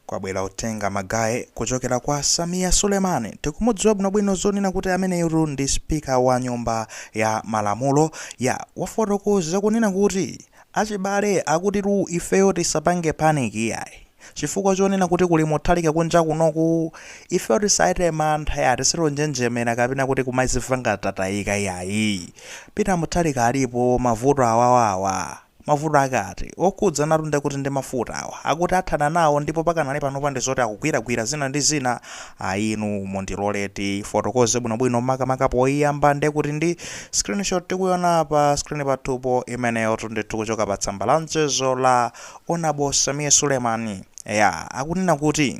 Kwabwera uthenga magaye kuchokera kwa Sameer Suleiman. Tikumudziwa bwinobwino zonena kuti ameneyutu ndi speaker wa nyumba ya malamulo ya wafotokoza kunena kuti achibale akutitu ifeyo tisapange panic iyayi. Chifukwa chonena kuti kuli Mutharika kunja kunoku ifeyo tisachite mantha ya tisatonjenjemera kapena kuti kumazimva ngati tatayika iyayi. Peter Mutharika alipo mavuto awawa awa. Mavuto ake ati? Okhudzanatu nde kuti ndi mafuta awa. Akuti athana nawo ndipo pakanali panopa ndi zoti akugwiragwira zina ndi zina. Ayi inu mundilole tifotokoze bwinobwino makamaka poyiyamba nde kuti ndi screenshot tikuyona pa screen pathupo imeneyotu ndithu kuchoka pa tsamba la mchezo la Honourable Sameer Suleiman. Eya akunena kuti.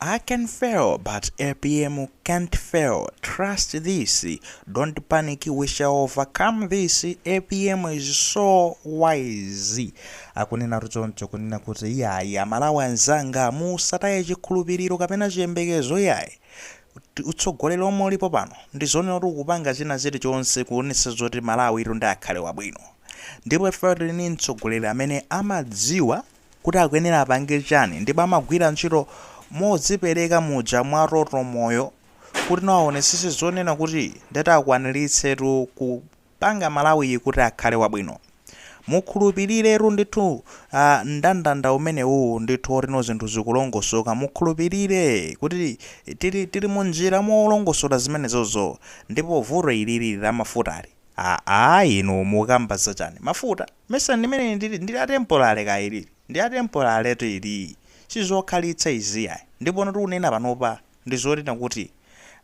I can fail but apm can't fail trust this don't panic we shall overcome this apm is so wise akunena choncho kunena kuti iyayi aMalawi anzanga musataye chikhulupiriro kapena chiyembekezo iyayi utsogoleri omwe ulipo pano ndizonena kuti ukupanga china chilichonse kuonetsa zoti Malawitu nde akhale wabwino ndipo ife tili ndi mtsogoleri amene amadziwa kuti akuyenera apange chani ndipo amagwira ntchito modzipereka muja mwa toto moyo kuti no awonetsetse zonena kuti ndeti akwanilitsetu kupanga Malawiyi kuti akhale wabwino. Mukhulupiliretu ndithu aah ndandanda umenewuu ndithu oti no zinthu zikulongosoka mukhulupilire kuti tili tili munjira molongosola zimenezozo ndipo vuto ilili la mafutali aah inu mukukamba zachani? Mafuta? Mesa ndimene ndili ndi la temporary kaya ilili ndi la temporary tu ilii sizokhalitsa izii ayi ndipono tikunena panopa ndizonena kuti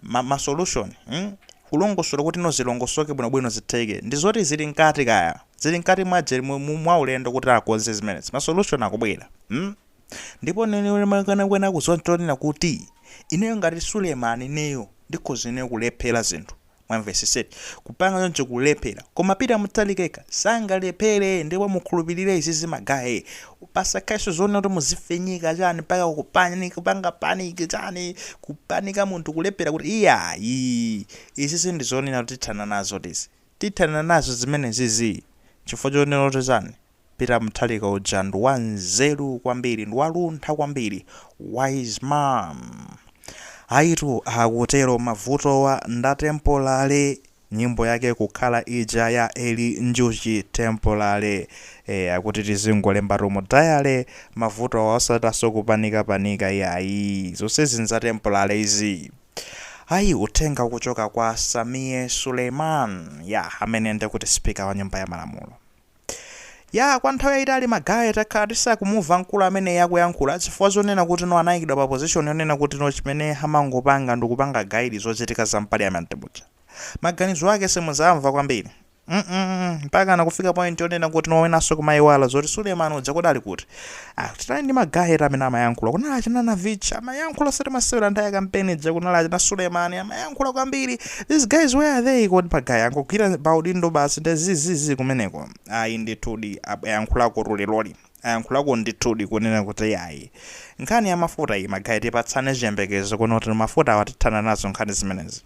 ma ma solution mm kulongosola kutino zilongosoke bwino bwino zitheke ndizoti zili mkati kaya zili mkati mwa je mu mu mwaulendo kuti akonze zimenezi ma solution akubwera mm ndipo nene makana kwena kuziwa chonena kuti ineyo ngati Suleman ineyo ndikhoza ineyo kulephera zinthu Mwamvetsetsa eti? Kupanga choncho kulephera. Koma Peter Mutharika yekha sangalephere ndipo mukhulupilire izizi magaye. Pasakhalenso zonena kuti muzifinyika chani mpaka kupani kupanga panic chani kupanika munthu kulephera kuti iyayi izizi ndizonena kuti tithana nazo tizi. Tithana nazo zimenezizi chifukwa chonena kuti chani? Peter Mutharika uja ndi wa nzeru kwambiri ndi waluntha kwambiri wise man ayitu akutero mavutowa nda tempolale nyimbo yake kukhala ija ya Eli Njuchi tempolale e, akuti tizingolembatu mu diary mavutowa osataso kupanika panika yayi zonsezi nza tempolale izi ayi uthenga ukuchoka kwa Sameer Suleiman ya amene ndekuti speaker wa nyumba ya malamulo Yaa, kwa nthawi yaitali ma guy takhala tisakumuva mkulu ameneyi akuyankhula chifukwa chonena kuti no anayikidwa pa position yonena kuti no chimene amangopanga ndikupanga guide zochitika za mpaliament muja. Maganizo ake simuzamva kwambiri mm mpakana kufika point yonena kuti no winanso kumayiwala zoti Suleman uja kodi ali kuti. Tinali ndi ma guy eti amene amayankhula, kunali achina Navicha amayankhula osati masewera nthawi ya kampeni ija, kunali achina Sulemani amayankhula kwambiri. These guys where are they? Kodi ma guy angogwira pa udindo basi ndi zizizi kumeneko? Ayi ndithudi ab- ayankhulako loliloli ayankhulako ndithudi kunena kuti yayi nkhani ya mafuta iyi magayi tipatsane chiyembekezo kuno kuti mafuta awa tithana nazo nkhani zimenezi.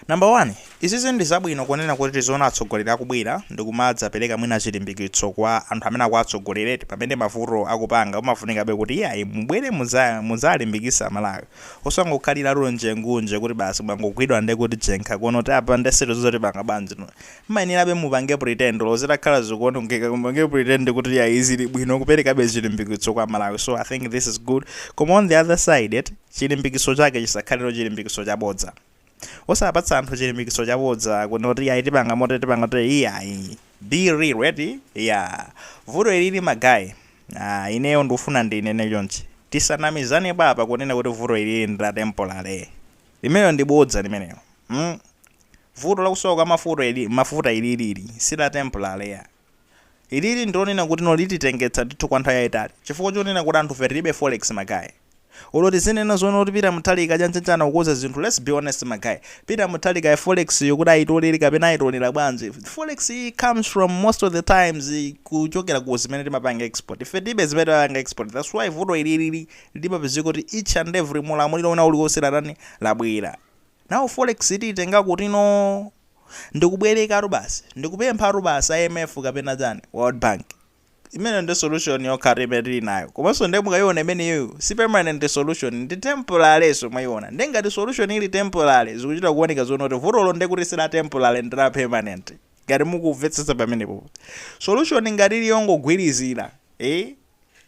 Number one, izizi ndi zabwino kunena kuti tiziona atsogoleri akubwera ndikumadzapereka mwina chilimbikitso kwa anthu amene akuwatsogolereti pamene mavuto akupanga umafunikabe kuti iyayi mubwere muzalimbikisa Malawi osangokhalira njengunje kuti basi mwangogwidwa nde kuti jenkha kunoti apa nde sitiziwa tipanga bwanji no mmayenerabe mupange pretend olo zitakhala zikuonongeka koma mupange pretend kuti iyayi zili bwino kuperekabe chilimbikitso kwa Malawi so I think this is good koma on the other side eti chilimbikitso chake chisakhaleno chilimbikitso chabodza. osapatsa anthu chilimbikitso chabodza kunena kuti iyayi tipanga motere tipanga motere iyayi be real eti iyaa vuto ilili ma guy aah ineyo ndufuna ndinene chonchi tisanamizanepo apa kunena kuti vuto ilili ndi la temporary limenelo ndi bodza limeneyo mm vuto lakusowa kwa mafuta ili mafuta ilili ili si la temporary iyaa. Ilili ndilonena kuti no lititengetsa ndithu kwa nthawi yaitali chifukwa chonena kuti anthufe tilibe forex ma guy. Olo tizinena zoona kuti Peter Muthalika aja atha nawo kukoza zinthu let's be honest ma guy. Peter Mutharikayo forex yo kuti ayitolere kapena ayitolera bwanji forex yi comes from most of the times kuchokera ku zimene timapanga export. Ife tilibe zimene timapanga export that's why vuto ili lili limapezeka kuti each and every mu ulamuliro wina uliwonse latani labwera. Now forex yi tiyitenga kuti no? ndikubwerekatu basi ndikupemphatu basi a IMF kapena chani world bank imeneyo nde solution yokhatu imene tili nayo komanso nde mukayiona imeneyoyo si permanent solution ndi temporarynso mwayiona nde ngati solution ili temporary zikuchita kuoneka zonena kuti vutolo nde kuti si la temporary ndi la permanent ngati mukumvetsetsa pamenepopo solution ngati ili yongogwirizira eh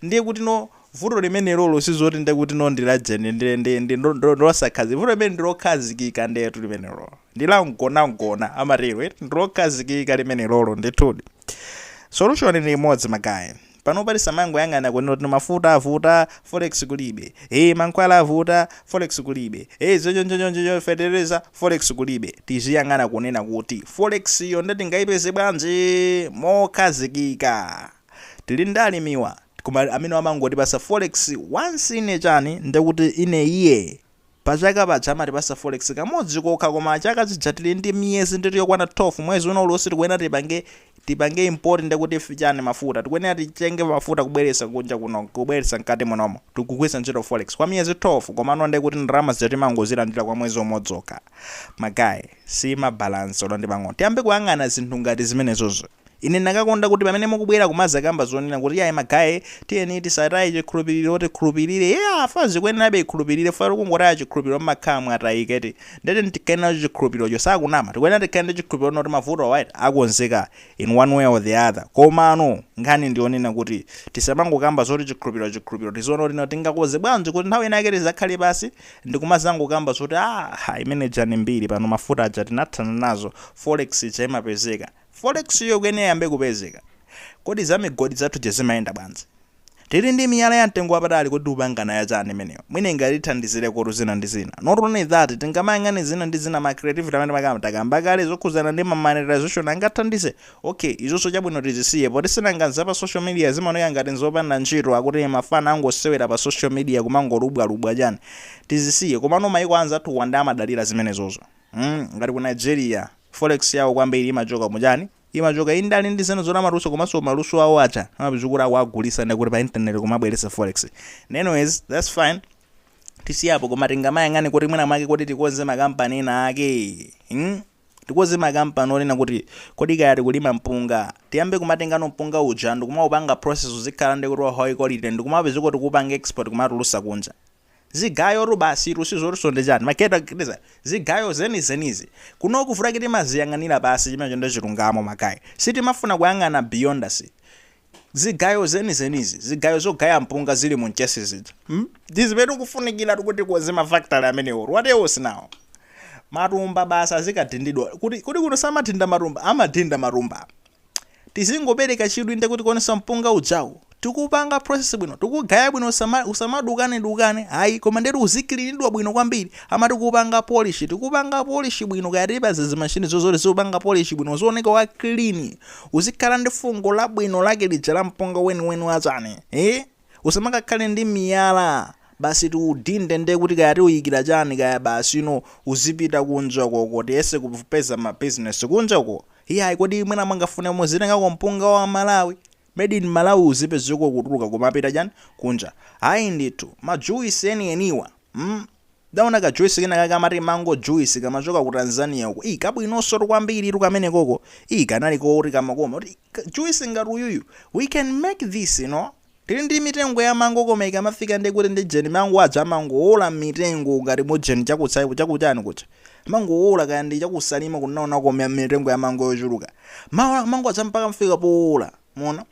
Ndiye kuti no vuto limenelolo sizoti ndiye kuti no ndi la jeni ndi ndi ndi ndo- ndo- ndosakhazikika vuto limeneli ndilokhazikika ndetu limenelo ndi la mgonagona amatero eti ndilokhazikika limenelolo ndithudi solution ndi imodzi magayi panopa tisamangoyang'ana kunena kuti mafuta avuta forex kulibe e mankhwala avuta forex kulibe e zonchonchoncho fetereza forex kulibe tiziyang'ana kunena kuti forex yo nde tingayipeze bwanji mokhazikika Tili ndi alimiwa koma amene amangotipasa forex once in a chani ndekuti in a year pachaka paja amatipasa forex kamodzi kokha koma chaka chija tili ndi miyezi ndithu yokwana 12 mwezi wina uliwonse tikuyenera tipange tipange import ndekuti chani mafuta tikuyenera titenge mafuta kubweretsa kunja kuno kubweretsa mkati munomo tikugwiritsa ntchito forex kwa miyezi 12 komano ndekuti ndalama zija timangozilandira kwa mwezi umodzi wokha ma guy siima balance olo ndi pang'ono tiyambe kuyang'ana zinthu ngati zimenezozo Ine ndinakakonda kuti pamene mukubwera kumazakamba zonena kuti iyayi ma guy tiyeni tisataye chikhulupiliro tikhulupilire yeah tikuyenerabe tikhulupilire chifukwa mukangotaya chikhulupiliro mmakhala mwatayika eti nde tiyeni tikhale nacho chikhulupirocho sakunama tikuyenera tikhale ndi chikhulupiliro chonena kuti mavutowa eti akonzeka in one way or the other komano nkhani ndi yonena kuti tisamangokamba zoti chikhulupiliro chikhulupiliro tiziona kuti no tingakonze bwanji kuti nthawi ina yake tizakhale pasi ndikumazangokamba zoti aah imene ija ndi mbiri pano mafuta aja tinathana nazo forex ija imapezeka Forex yo ikuyenera iyambe kupezeka. Kodi za migodi zathu zija zimayenda bwanji? Tili ndi miyala ya mtengo wapatali kodi tikupanga nayo chani imeneyo? Mwina ingatithandizireko kuti zina ndi zina. Not only that, tingamayang'ane zina ndi zina ma creativity amene timakamba, takamba kale zokhudzana ndi ma monetization angathandize? Ok, izozo chabwino tizisiye poti sinanga za pa social media zimaoneka ngati nzopanda ntchito akuti mafana angosewera pa social media kumangolubwalubwa chani. Tizisiye, komano maiko anzathuwa nde amadalira zimenezozo mm, ngati ku Nigeria. Forex yawo kwambiri imachoka mu chani? Imachoka indale ndi zina zoti amatulutsa komanso maluso awo aja amapeza kuti akuwagulitsa ndekuti pa internet kumabweretsa forex. Anyways, that's fine. Tisiye apo koma tingamayang'ane kuti mwina mwake kuti tikonze ma company ena ake. Hmm? Tikonze ma company onena kuti kodi kaya tikulima mpunga, tiyambe kumatengano mpunga uja ndikumaupanga process uzikhala ndekuti wa high quality ndikumapezeka tikuupanga export kumatulutsa kunja. zigayotu basitu sizotinso ndi chani ma gadget zigayo zenizenizi. Kunoku vuto lake timaziyang'anira pansi chimenecho nde chilungamo ma guy sitimafuna kuyang'ana beyond us zigayo zenizenizi zigayo zogaya mpunga zili mu mchesi zija ndizimene tikufunikiratu kuti tikonze ma factory amenewotu what else now? Matumba basi azikadindidwa kuti kodi kuno samadinda matumba? Amadinda matumba. Tizingopereka chidwi nde kuti kuonetsa mpunga ujawu tikuupanga process bwino, tikuugaya bwino usama usamadukane dukane ayi koma nde kuti uzikilinidwa bwino kwambiri amati kuupanga polish tikuupanga polish bwino kaya tipeze zimashinizo zoti ziziupanga polish bwino uzioneka wa clean uzikhala ndi fungo labwino lake lija la mpunga weniweni wachani eeh. Usamakakhale ndi miyala basi tiudinde nde kuti kaya tiuyikira chani kaya basi you know uzipita kunja ukoko tiyese kupeza ma business kunja uko iyayi kodi mwina mungafune muzitengako mpunga wa Malawi made in Malawi uzipezeka ukutuluka kumapita chani kunja ayi ndithu ma juice eni eniwa mm ndaona ka juice kena kake amati mango juice kamachoka ku Tanzania uko ii kabwinonsotu kwambiritu kamenekoko ii kanali koti kamakoma kuti K, Juice ngati uyuyu we can make this you know Tili ndi mitengo ya mango koma ikamafika ndekuti ndi ujeni mango aja amangowola mmitengo ngati mujeni cha ku chani cha ku chani kuja amangowola kaya ndi cha ku Salima ku Nono ko mi- mitengo ya mango yochuluka amawola mango aja mpaka kufika powola muona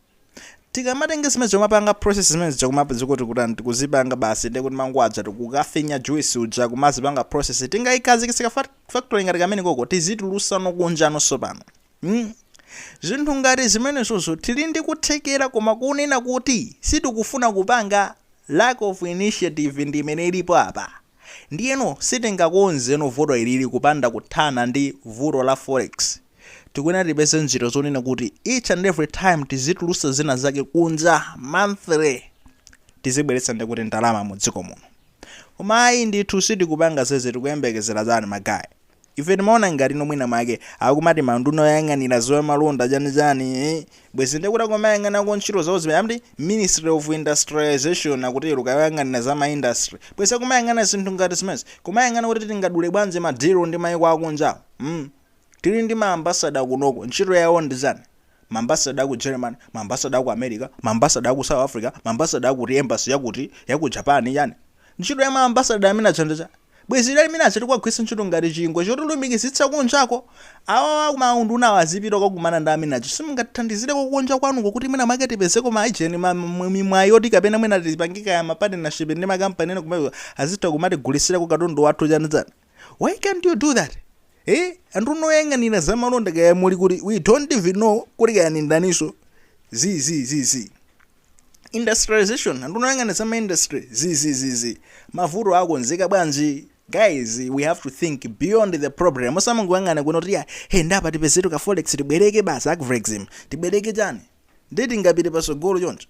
tikamatenge zimene zikumapanga process zimene zikumapa zikuti kutani tikuzipanga basi nde kuti mango aja tikukafinya juice uja kumazipanga process tingaikhazikitsa factory ngati kamene koko tizitulusa no kunjano sopano Hmm? Zinthu ngati zimenezozo tili ndi kuthekera koma kunena kuti sitikufuna kupanga lack of initiative ndi imene ilipo apa. Ndiyeno sitingakonzeno vuto ilili kupanda kuthana ndi vuto la forex. Tikuyenera tipeze njira zonena kuti each and every time tizitulusa zina zake kunja monthly tizibweretsa ndikuti ndalama mu dziko muno. Koma ayi ndithu sitikupanga zeze tikuyembekezera chani magaye? Ife timaona ngatino mwina mwake akumati anduna oyang'anira za malonda chani chani eeh bwezi ndekuti akumayang'anako ntchito zawo zimene amati ministry of industrialisation akutero kaya oyang'anira za ma industry bwezi akumayang'ana zinthu ngati zimenezi kumayang'ana kuti tingadule bwanji ma deal ndi maiko akunjawo mm tili ndi ma ambassador kunoko ntchito yawo ndi chani maambassador aku Germany, maambassador aku America, maambassador aku South Africa, maambassador akuti embassy yakuti yaku Japan yani ntchito ya maambassador amene aja ndi chani? Bwezi lidali amene aja tikuwagwiritsa ntchito ngati chingwe chotilumikizitsa kunjako? Awawa a maundunawa azipita kukakumana ndi amene aja simungatithandizireko kunja kwanuko kuti mwina mwake tipezeko ma agent, ma, ma, mi- mwayi yoti kapena mwina tipange kaya ma partnership ndi ma company ena amene azitha kumatigulitsirako katundu wathu chani chani? why can't you do that eh anduna oyang'anira zamalonda kaya muli kuti we don't even know kuti kaya ndi ndaniso zi zi zi zi industrialization anduna oyang'anira zama industry zi zi zi zi mavuto akonzeka bwanji guys we have to think beyond the problem osamangoyang'ana kuno kuti ya he ndapa tipezetu ka forex tibwereke basi ku Afrexim tibwereke chani ndiye tingapite pasogolo choncho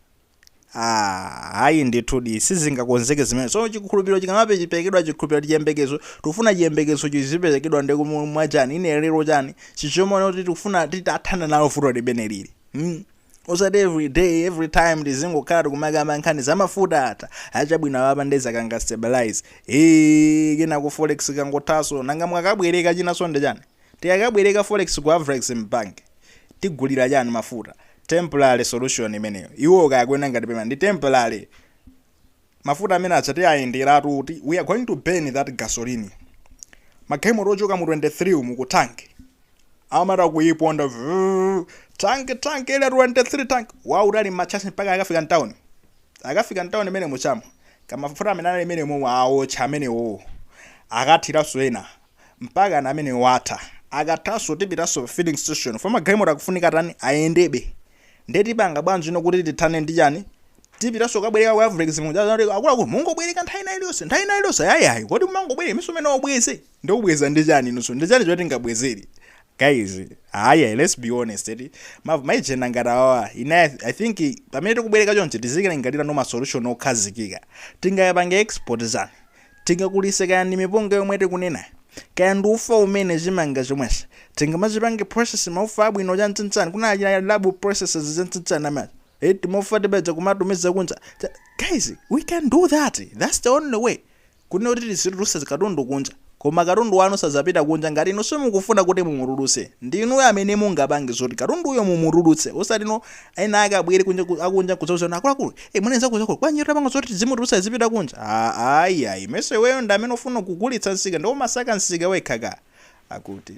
Ah, ayi ndithudi sizingakonzeke zimene so chikhulupiriro chikama- chikaperekedwa chikhulupiriro chiyembekezo tikufuna chiyembekezo chiziperekedwa ndi kumwachani ine lero chani chiche chonena kuti tikufuna titathana nalo vuto limene lili hmm? osati every day every time tizingokhala tikumakamba nkhani za mafuta atha achabwino awapa nde zikanga stabilize ee kenako forex kangothaso nanga mwakabwereka chinanso ndi chani tikakabwereka forex ku Afrexim banki tigulira chani mafuta temporary solution imeneyo iwowo kaya akuona ngati permanent ndi temporary mafuta amene aja tiayenderatu kuti we are going to burn that gasoline magalimoto ochokera mu 23 umu ku town amatha kuiponda vrrr, town town Area 23 town wautali macharge mpaka akafika mtauni akafika mtauni imene mujamo kamafuta amene anali imene momwe aotcha amenewowo akathiranso ena Mpakana amene watha. Akathanso tipitanso pa filling station chifukwa magalimoto akufunika atani? Ayendebe. Ndiye tipanga bwanji ino kuti tithane ndi chani? Tipitanso kukabwereka ku ma forex aja kuti akuluakulu mungobwereka nthawi ina iliyonse, nthawi ina iliyonse. Ayi, ayi. Kodi mumangobwereka nthawinso imene ubweze? Ndiye ubweza ndi chani inunso? Ndi chani chimene tingabwezere? Guys, ayi, ayi, let's be honest eti. Ma, ma agent ngati awawa, ine I, I think pamene tikubwereka chonchi tizikalingaliranso ma solution okhazikika. Tingayapange export chani? Tingakulise kaya ndi mipunga yomwe tikunena, kaya ndi ufa umene chimanga chimenechi tingamachipange process maufa abwino chan'chan'chan kunali achina Rab Processors chan'chan'chan ama eh timaufa tija kumatumiza kunja cha guys we can do that that's the only way kunena kuti tizitulutsa katundu kunja koma katundu wanu sazapita kunja ngati inu simukufuna kuti mumutulutse ndi inuyo amene mungapange zoti katunduyo mumutulutse osati no ena akabwere kunja ku- akunja kuzawuza kuti akuluakulu e mwana nzako zakulu bwanji tapanga zoti zimutulutsa zipita kunja "Ah, ayi ayi mwiniwake iweyo ndi amene ufuna kugulitsa nsika ndiye umasaka nsika wekhaka akuti